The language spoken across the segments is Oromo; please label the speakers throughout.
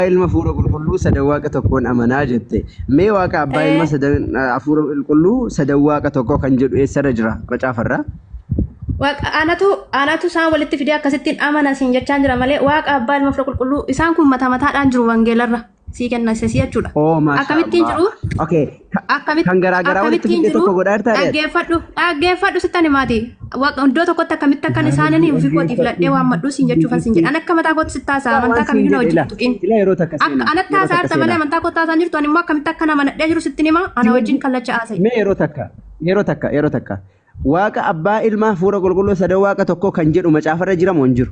Speaker 1: Abbaa Ilma Hafuura Qulqulluu sadan Waaqa tokkoon amanaa jette. Mee Waaqa Abbaa Ilma Ee, sadan Hafuura Qulqulluu sadan Waaqa tokkoo kan jedhu eessarra jira macaafarra? Waaqa
Speaker 2: anatu anatu isaan walitti fidee akkasittiin amana siin jechaan jira malee Waaqa Abbaa Ilma Hafuura Qulqulluu isaan kun mataa mataadhaan jiru wangeelarra sii kenna isa sii jechuudha. Oo maashaa Akkamittiin Allah. jiru? Okay.
Speaker 1: Akkamitti Kan garaa garaa walitti akkamittiin fidee jiru? tokko godhaa jirtaa re'ee? Dhaggeeffadhu dhaggeeffadhu
Speaker 2: sittani maati. Waqa iddoo tokkotti akkamitti akkan isaaniin ofii kootiif ladhee waammadhu siin jechuufan siin jedha. An akka mataa kootti sitti haasa'a amantaa kamiyyuu na wajjin tuqin. Ila yeroo takka Akka seenaa. anatti Yeroo takka haasa'a malee seenaa. amantaa kootti haasa'an jirtu ani immoo akkamitti akka nama nadhee jiru sittin hima ana wajjin kallacha haasa'e. Mee yeroo takka
Speaker 1: yeroo takka yeroo takka waaqa abbaa ilmaa fuura qulqulluu sadoo waaqa tokkoo kan jedhu macaafarra jiramu hin jiru.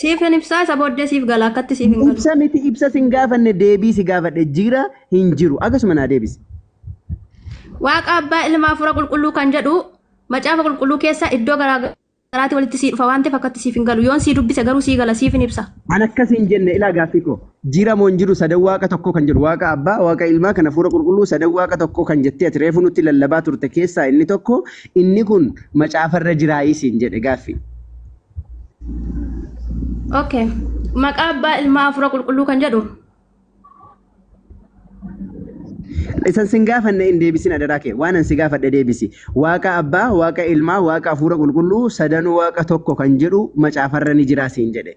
Speaker 2: Siif hin ibsaa isa booddee siif gala akkatti siif hin galu. Ibsa miti ibsa sin
Speaker 1: gaafanne deebii si gaafadhe jira hin jiru akkasuma naa deebisi.
Speaker 2: Waaqa abbaa ilma hafuura qulqulluu kan jedhu macaafa qulqulluu keessa iddoo garaa garaatti walitti sii dhufa waan ta'eef akkatti siif hin galu. Yoon sii dubbise garuu sii gala siif hin ibsa. An akkas hin jenne
Speaker 1: ilaa gaaffii koo. Jira moo hin jiru sadan waaqa tokkoo kan jedhu waaqa abbaa, waaqa ilmaa kan hafuura qulqulluu sadan waaqa tokkoo kan jettee ati reefu nutti lallabaa turte keessaa inni tokko inni kun macaafa irra jiraayii siin jedhe gaaffii.
Speaker 2: Okay. Maqaa abbaa ilmaa hafuura qulqulluu kan jedhu
Speaker 1: Isan sin gaafanne hin deebisin adaraa kee waan an si gaafadhe deebisi waaqa abbaa waaqa ilmaa waaqa hafuura qulqulluu sadan waaqa tokko kan jedhu macaafarra ni jiraa siin jedhe.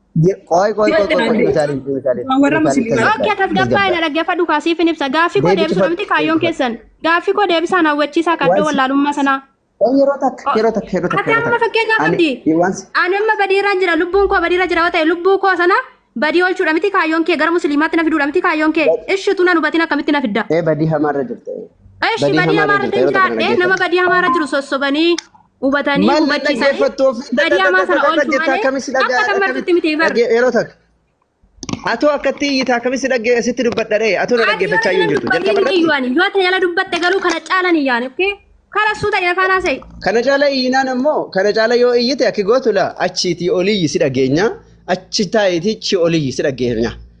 Speaker 2: Qoy qoy qoy
Speaker 1: qoy qoy Utaalin Utaalin Utaalin
Speaker 2: tasgabbaa'e. Okkee tasgabbaa'e na dhaggeeffadhu kaa siifin ibsa. Gaaffii koo deebisuudha miti kaayyoon keessan. Gaaffii koo deebisaan hawwachiisaa kaddoo wallaalummaa sanaa. Yeroo takka
Speaker 1: yeroo takka yeroo takka. Ati amma fakkeenyaa
Speaker 2: qabdi. Ani amma badiiraan jira lubbuun koo badiirra jira yoo ta'e lubbuu koo sana badii oolchuudha miti kaayyoon kee gara musliimaatti na fiduudha miti kaayyoon kee ishitu na hubatin akkamitti na fidda. Ee badii hamaarra
Speaker 1: jirta. Eshi badii
Speaker 2: hamaarra jiraadhee nama badii hamaarra jiru sossobanii hubatanii Maal hubachiisanii dhaggeeffattu ofii baadiyyaa maa sana oolchu jettaa malee akkamitti akka dhaga'aa kan martutti miti bar dhagge yeroo takka.
Speaker 1: Atoo akkatti iyyita akkamitti dhagge sitti dubbadha ree atoo na dhaggeeffachaa yoo jirtu jalqaba irratti dubbatte yoo tajaajila
Speaker 2: dubbatte garuu kana caalan iyyaan okkee kana suuta ina faanaa se'i kana caala iyyinaan
Speaker 1: ammoo kana caala yoo iyyite akki gootu laa achiitii oliyyi si dhageenya achi taayitii chi oliyyi si dhageenya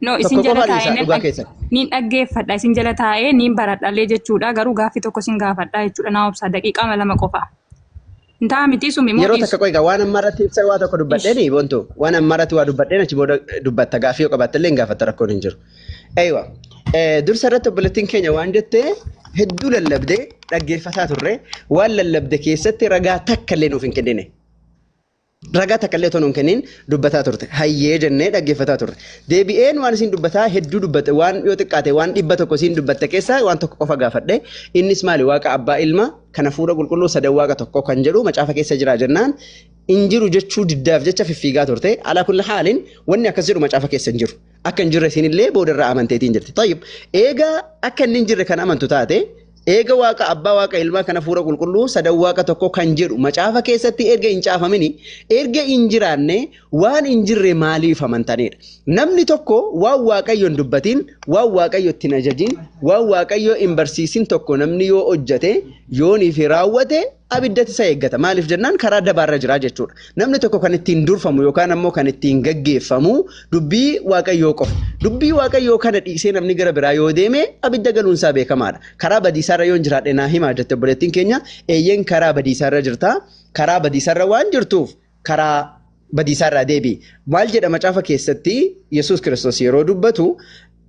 Speaker 3: No isin Tokko jala qofa dhiisaa, taa'ee dhugaa keessan. niin dhaggeeffadha isin jala taa'ee niin baradhallee jechuudha garuu gaaffii tokko isin gaafadha jechuudha naa obsaa daqiiqaa lama qofa. Hin ta'a miti sumi moo Yeroo dhiisu? takka qoy egaa waan amma
Speaker 1: irratti ibsa waa tokko dubbadheeni bontu waan amma irratti waa dubbadheen achi booda dubbatta gaaffii yoo qabaatte illee hin gaafatta rakkoon hin jiru. Eeywa dursa irratti obboleettiin keenya waan jette hedduu lallabdee dhaggeeffataa turre waan lallabde keessatti ragaa takka illee nuuf hin kennine. Ragaa takka illee otoo nuun kenniin dubbataa turte. Hayyee jennee dhaggeeffataa turre. Deebi'een waan isiin dubbataa hedduu dubbatte waan yoo xiqqaate waan dhibba tokko isiin dubbatte keessaa waan tokko qofa gaafadhe. Innis maali waaqa abbaa ilma kan hafuura qulqulluu sadan waaqa tokko kan jedhu macaafa keessa jira jennaan hin jiru jechuu diddaaf jecha fiffiigaa turte. Alaa kulli haaliin wanni akkas jedhu macaafa keessa hin jiru. akka hin jirre isinillee boodarraa amanteetiin jirti. Tayyib eega akka inni hin jirre kan amantu taate eega waaqa abbaa waaqa ilmaa kana fuura qulqulluu sadan waaqa tokko kan jedhu macaafa keessatti erga hin caafamini erga hin jiraanne waan hin jirre maaliif amantanidha. Namni tokko waan waaqayyo hin dubbatiin waan waaqayyo itti hin ajajiin waan waaqayyo hin barsiisin tokko namni yoo hojjate yoonii fi raawwate abiddatti isa eeggata. Maaliif jennaan karaa dabaarra jira jechuudha. Namni tokko kan ittiin durfamu yookaan ammoo kan ittiin gaggeeffamu dubbii Waaqayyoo qofa. Dubbii Waaqayyoo kana dhiisee namni gara biraa yoo deeme abidda galuunsaa beekamaadha. Karaa badiisaarra yoon jiraadhe naa himaa jette obboleettiin keenya eeyyeen karaa badiisaarra jirta. Karaa badiisaarra waan jirtuuf karaa badiisaarraa deebi'i. Maal jedha macaafa keessatti Yesuus Kiristoos yeroo dubbatu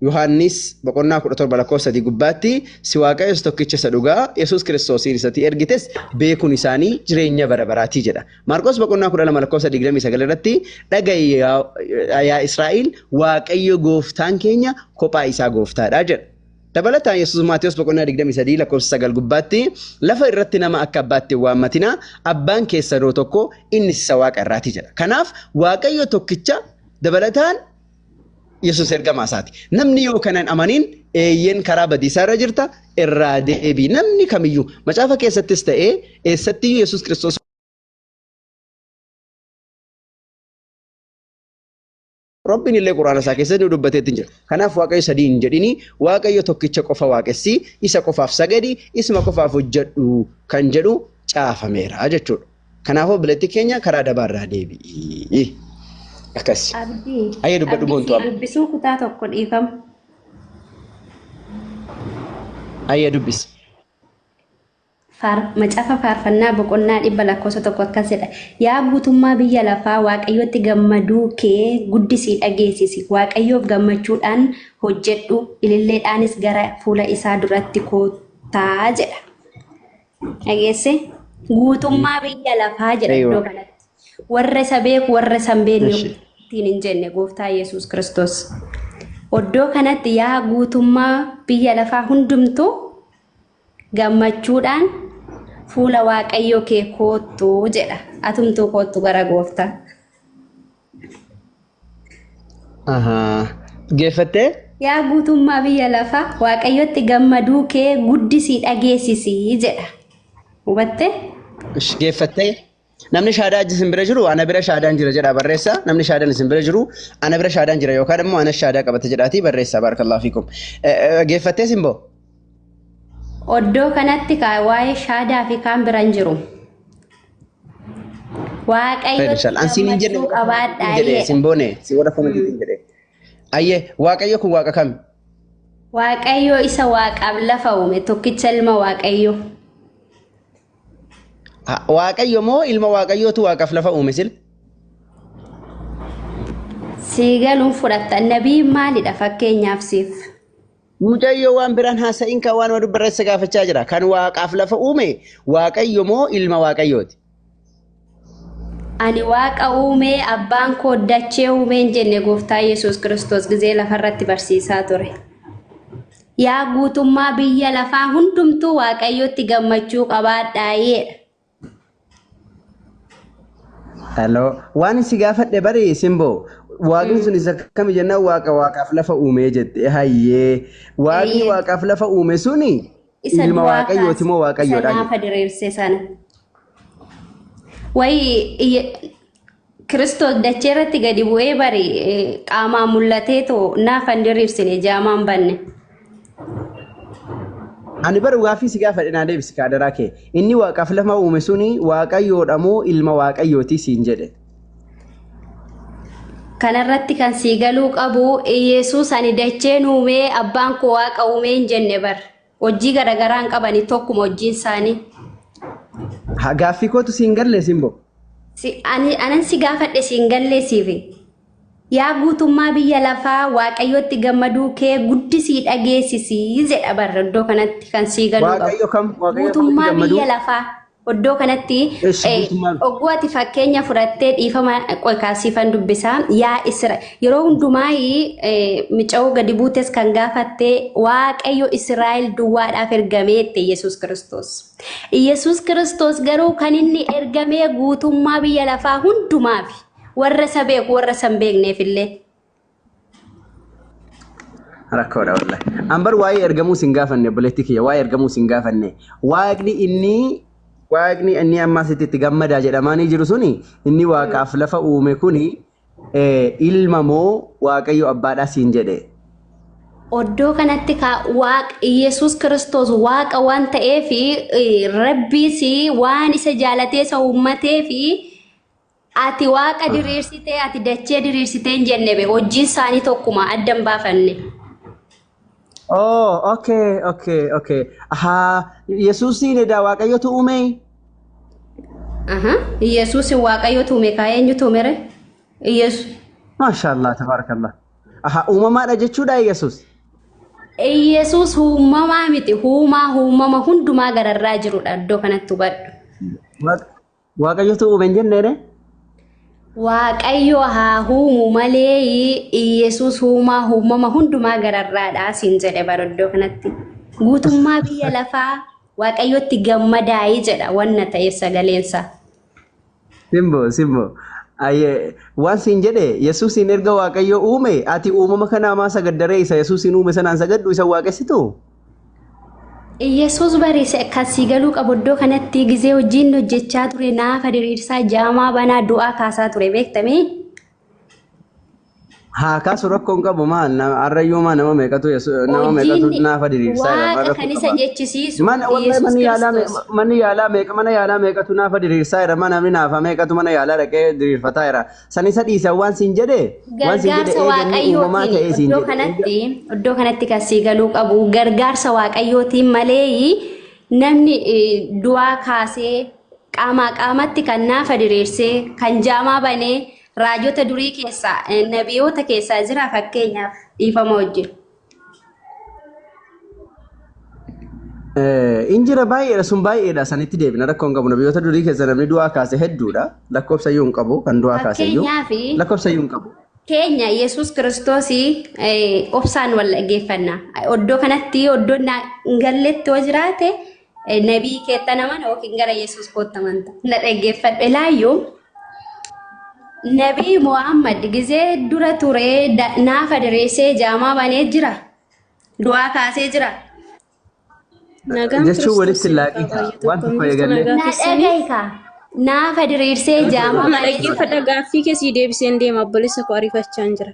Speaker 1: Yohaannis boqonnaa 17 lakkoofsa 3 gubbaatti si waaqayyo isa tokkicha isa dhugaa Yesuus Kiristoosiin isatii ergites beekuun isaanii jireenya bara baraatii jedha. Maarqos boqonnaa 12 lakkoofsa 29 irratti dhaga'i yaa yaa Israa'el waaqayyo gooftaan keenya kophaa isaa gooftaadha jedha. Dabalataan Yesuus Maatiyos boqonnaa 23 lakkoofsa 9 gubbaatti lafa irratti nama akka abbaatti hin waammatinaa abbaan keessanoo tokko innis isa waaqa irraati jedha. Kanaaf waaqayyo tokkicha dabalataan Yesus ergamaa isaati. Namni yoo kanan amanin eeyyeen karaa badiisaa irra jirta irraa deebi. Namni kamiyyuu macaafa keessattis ta'ee eessattiyyuu Yesus Kiristoos Rabbiin illee quraana isaa keessatti nu dubbateetti jira. Kanaaf waaqayyo sadii hin jedhini waaqayyo tokkicha qofa waaqessi isa qofaaf sagadi isma qofaaf hojjedhu kan jedhu caafameera jechuudha. Kanaafuu obboleettii keenya karaa dabaa irraa deebi'i. Akkas. Abdii. Ayyee
Speaker 2: dubbadhu Abdii boontu sii
Speaker 1: amma. dubbisuu kutaa tokko
Speaker 2: dhiifama.
Speaker 1: Ayyee dubbisi. Faar,
Speaker 2: macaafa faarfannaa boqonnaa dhibba lakkoofsa tokko akkas jedha. Yaa guutummaa biyya lafaa waaqayyotti gammaduu kee guddisii dhageessisi. Waaqayyoof gammachuudhaan hojjedhu, ililleedhaanis gara fuula isaa duratti koottaa jedha. Dhageesse guutummaa biyya lafaa jedha Eeywa. iddoo kanatti. Warra isa beeku warra isa hin beekne Eshi. ittiin hin jenne gooftaa Yesuus Kiristoos. Iddoo kanatti yaa guutummaa biyya lafaa hundumtuu gammachuudhaan fuula waaqayyoo kee koottu jedha. Atumtuu koottu gara gooftaa.
Speaker 1: Geeffattee? Yaa guutummaa
Speaker 2: biyya lafaa waaqayyotti gammaduu kee guddisii dhageessisi jedha. Hubatte? Ish,
Speaker 1: Geeffattee? Namni shaadaa ajji isin bira jiru ana bira shaadaan jira jedhaa barreessaa. Namni shaadaan isin bira jiru ana bira shaadaan jira yookaan immoo anas shaadaa qabata jedhaatii barreessaa baarakallahu fiikum. Eh, eh, Geeffattee simboo?
Speaker 2: Oddoo kanatti kaa waa'ee shaadaa fi kaan biraan jiru. Waaqayyo Federal. An siin hin jenne gammachuu qabaadha hin jedhe jedha. sin boone si warra komitii
Speaker 1: hin jedhe. Ayyee waaqayyo kun waaqa kami? Waaqayyo
Speaker 2: isa waaqaaf lafa uume tokkicha ilma Waaqayyo.
Speaker 1: Ha, Waaqayyo moo ilma waaqayyootu waaqaaf lafa uume sil?
Speaker 2: Sii galuun fudhatta. Nabiin maalidha fakkeenyaaf siif? Mucayyoo
Speaker 1: waan biraan haasa'in kan waanuma dubbarra isa gaafachaa jira. Kan waaqaaf lafa uume waaqayyo moo ilma waaqayyooti?
Speaker 2: Ani waaqa uumee abbaan koo dachee uumeen jenne gooftaa Yesuus Kiristoos gizee lafarratti barsiisaa ture. Yaa guutummaa biyya lafaa hundumtuu waaqayyotti gammachuu qabaadhaa jedha.
Speaker 1: Hello. Waan si gaafadhe bari simboo. Waaqni sun isa kami jennaan waaqa waaqaaf lafa uumee jette. Hayyee. Waaqni Eeyyee. waaqaaf lafa uume suni Isa ilma du'aa waaqayyooti kaase. moo Isa waaqayyoodha? naafa diriirse sana.
Speaker 2: Wayii iyya- Kiristoos dachee irratti gadi bu'ee bari qaamaan mul'atee too naaf hin diriirsine jaamaan banne.
Speaker 1: Ani bara gaaffii si gaafadhe naa deebisi kaadaraa kee. Inni waaqaaf lafa uume suni waaqayyoodha moo ilma waaqayyooti siin jedhe.
Speaker 2: Kanarratti kan sii galuu qabu Iyeesuus ani dacheen uumee abbaan koo waaqa uumee hin jenne bar. Hojii garaagaraa hin qabani tokkuma hojiin isaanii.
Speaker 1: Ha, Gaaffii kootu siin galle simboo. Si- ani-
Speaker 2: Anan si gaafadhe siin galleessiifi. Yaa guutummaa biyya lafaa waaqayyotti gammaduu kee guddisii dhageessisii jedha barra iddoo kanatti kan sii galuu qabu. Waaqayyo kam? Waaqayyo akkamitti Guutummaa gammaduu? biyya lafaa. Oddoo kanatti Eessi eh, guutummaa dha. ogguu ati fakkeenya fudhattee dhiifama qoy kaasiifan dubbisaa yaa Isra yeroo hundumaa mica'uu gadi buutes kan gaafatte waaqayyo Israa'el duwwaadhaaf ergameette Yesuus Kiristoos. Yesuus Kiristoos garuu kan inni ergamee guutummaa biyya lafaa hundumaafi warra isa beeku warra isa hin beekneefillee.
Speaker 1: rakkoodha wallahi. An bar waa'ee ergamuu sin gaafanne obboleettii kiyya waa'ee ergamuu sin gaafanne waaqni inni waaqni inni amma asitti itti gammadaa jedhamaanii jiru suni inni waaqaaf lafa uume kuni eh, ilma moo waaqayyo abbaadhaa siin jedhe.
Speaker 2: Oddoo kanatti ka waaq Yesuus Kiristoos waaqa waan ta'eef eh, rabbiis waan isa jaalatee isa uummatee fi Ati waaqa diriirsitee ati dachee diriirsitee hin jenne be hojjiin isaanii tokkuma adda hin baafanne.
Speaker 1: Oh, okay, okay, okay. Ahaa, Yesuusiin edaa Waaqayyotu uumee? Aha.
Speaker 2: Yesuus waaqayyo tuume kaa eenyu tuumere? Yesuus. Maashaallah,
Speaker 1: tabaarakallah. Ahaa, uumamaadha jechuudha Yesuus.
Speaker 2: Yesuus uumamaa miti uumaa uumama hundumaa gararraa jirudha iddoo kanatti hubadhu. Waaqa-
Speaker 1: Waaqayyotu uume hin jenneere.
Speaker 2: Waaqayyo haa huumu malee Iyyasuus huumaa uumama hundumaa gararraadha siin jedhe bara iddoo kanatti. Guutummaa biyya lafaa Waaqayyotti gammadaa'ii jedha wanna ta'e sagaleensa. Simbo simbo.
Speaker 1: Ayyee waan siin jedhe Yesuusiin erga Waaqayyo uume ati uumama kanaa maa sagaddaree isa Yesuusiin uume sanaan sagaddu isa waaqessitu? Iyyasuus
Speaker 2: bariise kan sii galuu qabu iddoo kanatti gizee hojiin hojjechaa ture naafa diriirsaa jaamaa banaa du'aa kaasaa ture beektamee.
Speaker 1: Haa kaasu rakkoon qabu maal na- harrayyuu maa nama meeqatu yesu- nama meeqatu Hojiin naafa diriirsaa jedhama waaqa rakkoo kan isa qaba.
Speaker 2: jechisiisu Mana wallahi Iyyasuus manni yaalaa me-
Speaker 1: Kiristoos. manni yaalaa meeqa mana yaalaa meeqatu naafa diriirsaa jira mana namni naafa meeqatu mana yaalaa dhaqee diriirfataa jira San isa dhiisan waan siin jedhe waan siin jedhe Gargaarsa eeganni uumamaa
Speaker 2: waaqayyootiin ta'ee siin iddoo jedhe. kanatti iddoo kanatti kan sii galuu qabu gargaarsa waaqayyootiin malee namni eh, du'aa kaasee qaamaa qaamatti kan naafa diriirsee kan jaamaa banee raajota durii keessaa eh, nabiyoota keessaa jira fakkeenyaaf dhiifama wajjin.
Speaker 1: In jira baay'eedha sun baay'eedha sanitti deebina rakkoon qabu nabiyoota durii keessa namni du'aa kaase hedduudha lakkoofsa iyyuu hin qabu kan du'aa kaase iyyuu Fakkeenyaaf- lakkoofsa iyyuu hin qabu. keenya yesus
Speaker 2: kiristoos obsaan wal dhaggeeffanna oddoo kanatti oddoo na- hin galletti yoo jiraate Nabii keetta naman yookiin gara Yesuus kootta amanta. Na dhaggeeffadhe laayyoo. Nabii Muhammad gizee dura turee da- naafa direessee jaamaa banee jira. Du'aa kaasee jira. Nagaan
Speaker 1: Jechuun walitti Kiristoosiin laaqii haa ta'a. baay'atu. Waan tokko Akkam jirtu eegallee. nagaa Na keessanii? dhagahi kaa.
Speaker 2: Naafa diriirsee jaamaa Amma banee jira. dhaggeeffadha gaaffii keessii
Speaker 4: deebiseen deema obboleessa koo ariifachaan jira.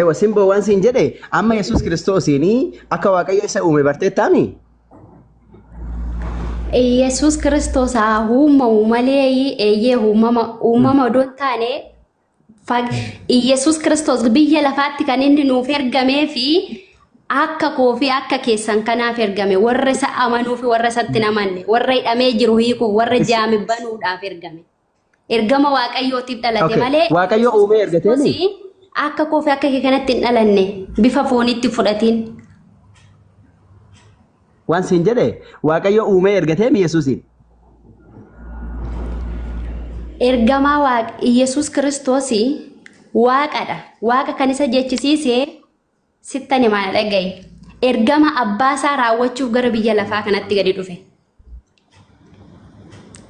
Speaker 1: Ewa simboo waan siin jedhe amma Yesuus Kiristoosiin akka Waaqayyo isa uume barteettaami?
Speaker 2: Yesuus Kiristoos haa uumamu malee eeyyee uumama uumama odoo hin taane fag- Yesuus Kiristoos biyya lafaatti kan inni nuuf ergamee fi akka koo fi akka keessan kanaaf ergame warra isa amanuu fi warra isatti hin amanne warra hidhamee jiru hiikuuf warra jaame banuudhaaf ergame. Ergama Waaqayyootiif dhalate Okay. malee Waaqayyo Yesuus uumee ergatee
Speaker 1: ni? Kiristoos akka koo fi
Speaker 2: akka kee kanatti hin dhalanne bifa fooniitti fudhatiin.
Speaker 1: Waan siin jedhe Waaqayyo uumee ergatee mi Yesuusiin?
Speaker 2: Ergamaa Waaq Yesuus Kiristoos Waaqadha. Waaqa kan isa jechisiise Sittan himaana dhaga'i. Ergama abbaa isaa raawwachuuf gara biyya lafaa kanatti gadi dhufe.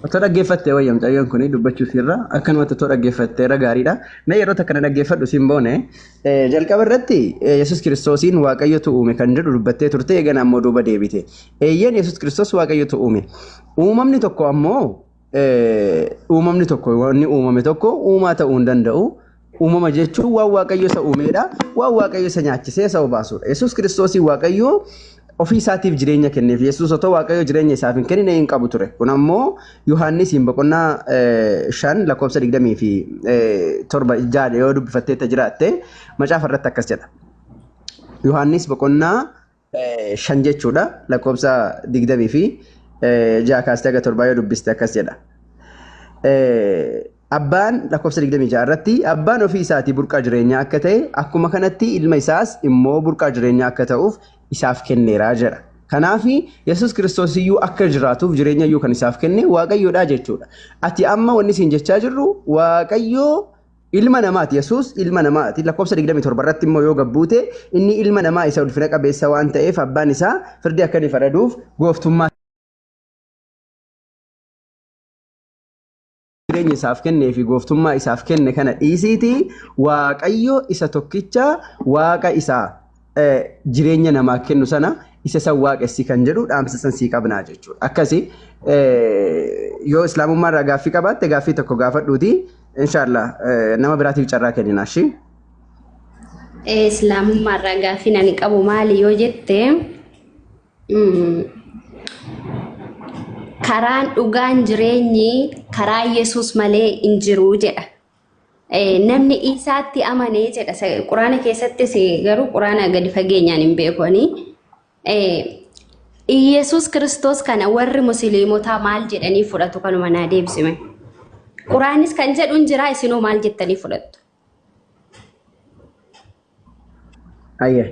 Speaker 2: Otoo
Speaker 1: dhaggeeffattee wayya mucayyoon kun dubbachuu siirra akkanumatti otoo dhaggeeffattee irra gaariidha. Mee yeroo takka na dhaggeeffadhu siin boone eh, jalqaba irratti eh, Yesuus Kiristoosiin Waaqayyotu uume kan jedhu dubbattee turte eegana ammoo duuba deebite. Eeyyeen Yesuus Kiristoos Waaqayyotu uume. Uumamni tokko ammoo uumamni tokko wanni uumame tokko uumaa ta'uu hin danda'u. Uumama jechuun waan waaqayyo isa uumeedha. Waan waaqayyo isa nyaachisee isa obaasuudha. Yesuus kiristoosii waaqayyo ofii isaatiif jireenya kenneef. Yesuus otoo waaqayyo jireenya isaaf hin kennine hin qabu ture. Kun ammoo Yohaannisiin boqonnaa shan lakkoofsa digdamii fi torba jaadha yoo dubbifatteetta jiraatte macaafa irratti akkas jedha. Yohaannis boqonnaa shan jechuudha lakkoofsa digdamii fi ja'a kaastee haga torbaa yoo dubbiste akkas jedha. Abbaan lakkoofsa digdamii ja'a irratti abbaan ofii isaatii burqaa jireenyaa akka ta'e akkuma kanatti ilma isaas immoo burqaa jireenyaa akka ta'uuf isaaf kenneera jedha. Kanaaf Yesuus Kiristoos iyyuu akka jiraatuuf jireenya iyyuu kan isaaf kenne Waaqayyoodha jechuudha. Ati amma wanni siin jechaa jirru Waaqayyoo Ilma namaati. Yesuus ilma namaati. Lakkoofsa 27 irratti immoo yoo gabbuute inni ilma namaa isa ulfina qabeessa waan ta'eef abbaan isaa firdii akka inni faraduuf gooftummaa jireenya isaaf kennee fi gooftummaa isaaf kenne kana dhiisiiti waaqayyo isa tokkicha waaqa isaa jireenya namaa kennu sana isa san waaqessi kan jedhu dhaamsa san sii qabnaa jechuudha. Akkasi yoo islaamummaa irraa gaaffii qabaatte gaaffii tokko gaafadhuuti inshaallah nama biraatiif carraa kennina shi.
Speaker 4: Islaamummaa irraa gaaffii nani qabu maali yoo jette karaan dhugaan jireenyi karaa Yesuus malee hin jiru jedha. Namni Iisaatti amane jedha. Quraana keessattis garuu quraana gadi fageenyaan hin beeku ani. Iyyasuus Kiristoos kana warri musliimotaa maal jedhanii fudhatu kanuma naa deebisime. Quraanis kan jedhu hin jira isinoo maal jettanii fudhattu?
Speaker 1: Ayya.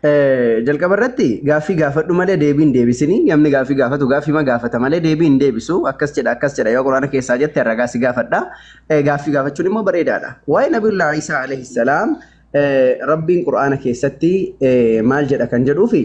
Speaker 1: Eh, Jalqaba irratti gaaffii gaafadhu malee deebii hin deebisini. Namni gaaffii gaafatu gaaffii ma gaafata malee deebii hin deebisu. Akkas jedha akkas jedha yoo quraana keessaa jette ragaa si gaafadha. Eh, Gaaffii gaafachuun immoo bareedaadha. Waa'ee Nabiyyullah Isaa alayhi salaam eh, Rabbiin quraana keessatti eh, maal jedha kan jedhuufi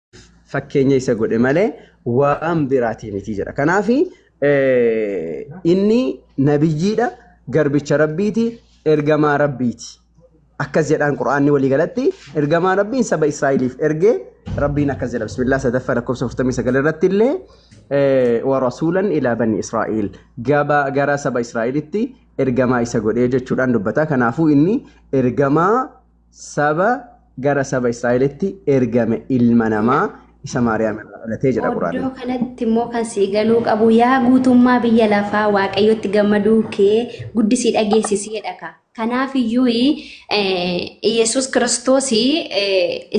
Speaker 1: fakkeenya isa godhe malee waan biraatii miti jedha. Kanaaf inni nabiyyiidha, garbicha rabbiiti, ergamaa rabbiiti. Akkas jedhaan Qur'aanni walii galatti ergamaa rabbiin saba Israa'eliif ergee rabbiin akkas jedha bismillah sadaffaa lakkoofsa 49 irratti illee warasuulan ilaa bani Israa'el gabaa gara saba Israa'elitti ergamaa isa godhee jechuudhaan dubbata. Kanaafuu inni ergamaa saba gara saba Israa'elitti ergame ilma namaa isa Maariyaam irraa dhalatee jedha Oddoo Quraanni. kanatti immoo kan
Speaker 4: sii galuu qabu yaa guutummaa biyya lafaa waaqayyotti gammaduu kee guddisii dhageessisiidha ka. Kanaaf iyyuu Iyyasuus Kiristoos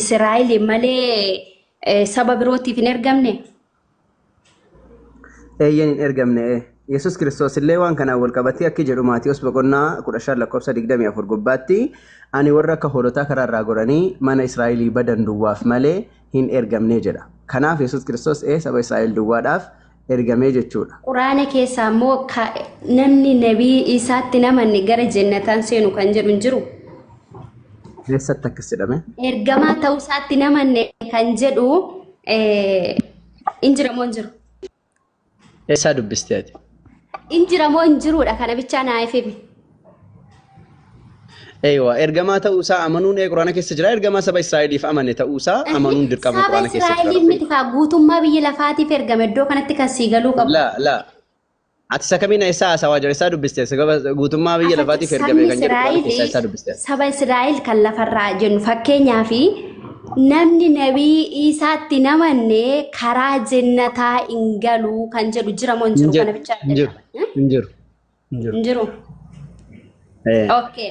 Speaker 4: Israa'el malee eh, saba birootiif hin ergamne.
Speaker 1: Eeyyen hin ergamne ee. Yesus Kiristoos illee waan kanaan wal qabatee akki jedhu Maatiyoos boqonnaa 15 lakkoofsa 24 gubbaatti ani warra akka hoolotaa karaa irraa goranii mana Israa'elii badan duwwaaf malee hin ergamne jedha. Kanaaf Yesus Kiristoos ee saba Israa'el duwwaadhaaf ergamee jechuudha. Quraana keessaa immoo
Speaker 4: ka namni nabii isaatti hin amanne gara jennataan seenu kan jedhu hin jiru.
Speaker 1: Eessatti akkas jedhame? Ergamaa ta'uu
Speaker 4: isaatti hin amanne kan jedhu Eh, In jira moo hin jiru?
Speaker 1: Eessaa dubbiste ati? In jira moo
Speaker 4: hin jiruudha kana bichaa naa ifimi.
Speaker 1: Eeywa ergamaa ta'uusaa amanuun ee quraana keessa jira ergamaa saba Israa'eliif amane ta'uusaa amanuun dirqama Saba quraana keessa jira. Israa'eliin miti kaa guutummaa
Speaker 4: biyya lafaatiif ergame iddoo kanatti kan sii galuu qabu. Laa laa
Speaker 1: Ati isa kamiin eessaa haasawaa jira? Eessaa dubbiste? Sababa guutummaa biyya Afaki- lafaatiif ergamee sabni kan jedhu Qur'aana keessaa Israa'el eessaa dubbiste? saba Israa'el kan
Speaker 4: lafarraa jennu fakkeenyaa fi namni nabii Iisaatti hin amanne karaa jennataa hin galu kan jedhu jira moo hin Hin jiru jiru. kana bichaa Hin jiru. Hin jiru.
Speaker 1: Hin jiru. hin jiru.
Speaker 4: Eh. Okay.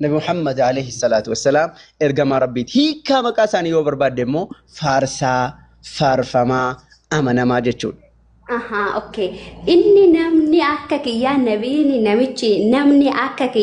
Speaker 1: Nabi Muhammad alayhi salaatu wassalaam ergamaa Rabbiiti. Hiikaa maqaa isaanii yoo barbaadde immoo faarsaa, faarfamaa, amanamaa jechuudha. Ahaa,
Speaker 5: okay. Inni namni akka kiyyaa nabiini namichi namni akka kiyyaa.